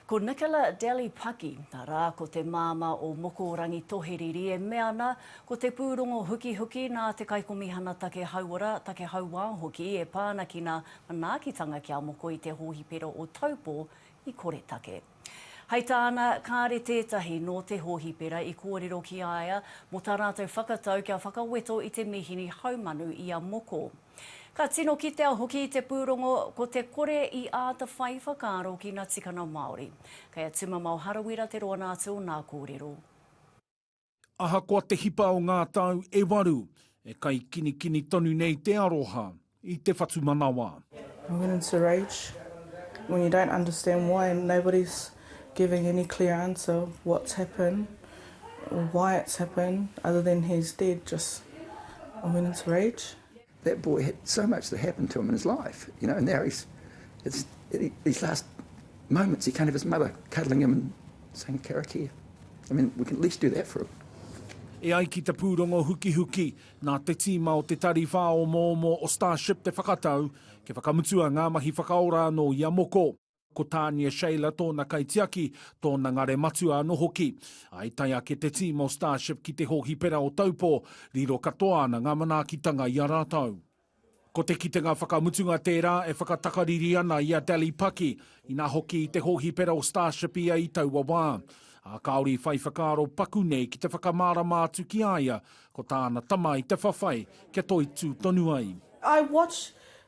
Ko Nicola Delly Paki, arā, ko te māmā o Mokorangi Toheriri e mea ana, ko te pūrongo hukihuki nā te Kaikomihana Take Hauora, Take Hauā hoki e pā ana ki nā manaakitanga kia moko i te hōhipera o Taupō i Koretake. Hei tāna, kāre tētahi nō te hōhipera i kōrero ki a ia mō tā rātou whakatau kia whakaweto i te mīhini haumanu i a Moko. Ka tino kitea hoki i te pūrongo ko te kore i āta whai whakaaro ki ngā tikanga Māori. Kei a Tumamao Harawira te roanga atu o nā kōrero. Ahakoa te hipa o ngā tau e waru, e kaikinikini tonu nei te aroha i te whatumanawa. giving any clear answer what's happen or why it's happen other than he's dead just a minutes rage. That boy had so much that happened to him in his life, you know, and now he's, it's, it, these last moments he can't have his mother cuddling him and saying, Karakia. I mean, we can at least do that for him. E ai ki te pūrongo hukihuki, nā te tīma o te Tari Whāomoomo o Starship te whakatau, kia whakamutua ngā mahi whakaora anō i a Moko. Ko Tania Shayler tōna kaitiaki, tōna ngare matua anō hoki. I tae ake te tīma o Starship ki te hōhipera o Taupō, riro katoa ana ngā manaakitanga i a rātou. Ko te kitenga whakamutunga tērā e whakatakariri ana i a Dally Paki, inā hoki i te hōhipera o Starship ia i taua wā. Ā, kāore i whai whakaaro paku nei ki te whakamārama atu ki a ia, ko tāna tama i te whawhai kia toitū tonu ai. I watch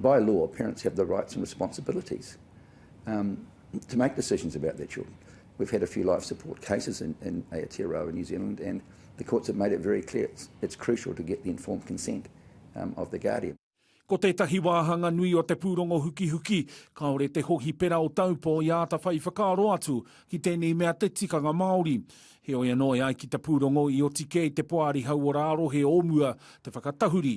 By law, parents have the rights and responsibilities um, to make decisions about their children. We've had a few life support cases in, in Aotearoa in New Zealand, and the courts have made it very clear it's, it's crucial to get the informed consent um, of the guardian. Ko tētahi wāhanga nui o te pūrongo hukihuki, kāore te hohipera o Taupō i āta whai whakaaro atu ki tēnei mea te tikanga Māori. Heoi anō e ai ki te pūrongo i oti kē i te Poari Hauora Arohe o mua te whakatahuri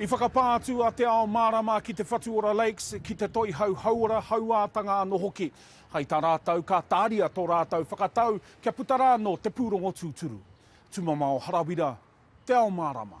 I whakapā atu a Te Ao Mārama ki te Whatuora Lakes, ki te Toihau Hauora, Hauātanga anō hoki. Hai tā rātou, ka tāria tō rātou whakatau kia puta rānō te pūrongo tūturu. Tumamao Harawira, Te Ao Mārama.